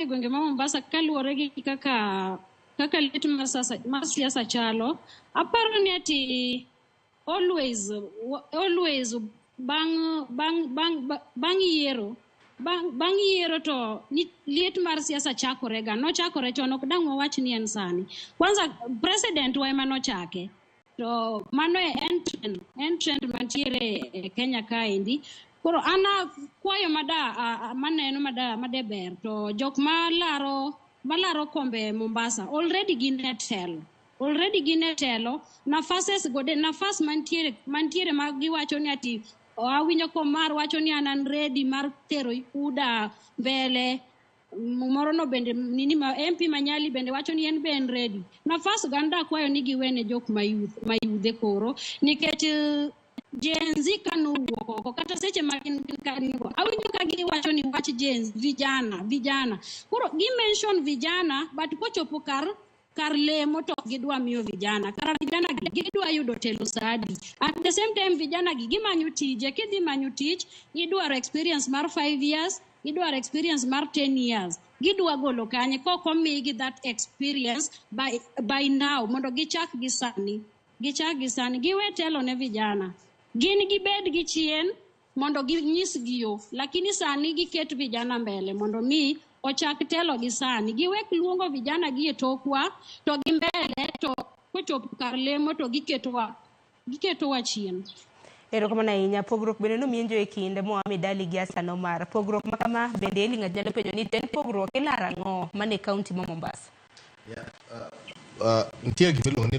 e gwenge ma Mombasa kaluwore gi kaka kaka lit mar sasa mar siasa chalo, aparo ni ati always wa- always bang' bang' bang' ba- bang' yiero bang' bang' yiero to ni- liet mar siasa chakorega nochakore chon ok dang' wawach ni en sani kwanza president wa ema nochake to mano en trend en trend mantiere e kenya kaendi koro an kwayo mada maneno mada madeber to jok malaro malaro kombe mombasa already gin e telo already gin e telo nafases gode nafas mantiere mantiere ma giwacho ni ati awinjo komar wacho ni an an ready mar tero uda mbele moro no bende nini ma MP Manyali bende wacho ni en be en ready. Nafas ganda akwayo ni giwene jok mayuth mayudhe koro nikech eh, Gen Z ka nowuok oko kata seche ma gin gin ka gin go awinjo ka giwacho ni wach Gen Z vijana vijana koro gi mention vijana but kochopo kar kar lemo to ok gidwa miyo vijana kara vijana gi gidwa yudo telo saa adi at the same time vijana gi gimanyo tije kidhi manyo tich idwaro experience mar five years idwaro experience mar 10 years gidwa golo kanye kok omigi that experience by, by now mondo gichak gi sani gichak gi sani giwe telo ne vijana gin gibed gi chien mondo ginyisgi yo lakini sani giket vijana mbele mondo mi ochak telo gi sani giwek luongo vijana gi e tokwa to gi mbele to kochopo kar lemo to giketowa giketowa chien erokamano ahinya pogruok bende nomienjo e kinde moa midali gi asan omar pogruok ma kama bende eli ng'at nyalo penjo ni to en pogruok ilaro ang'o mane kaunti ma mombasa yeah, uh, uh, nitie gima iluongo ni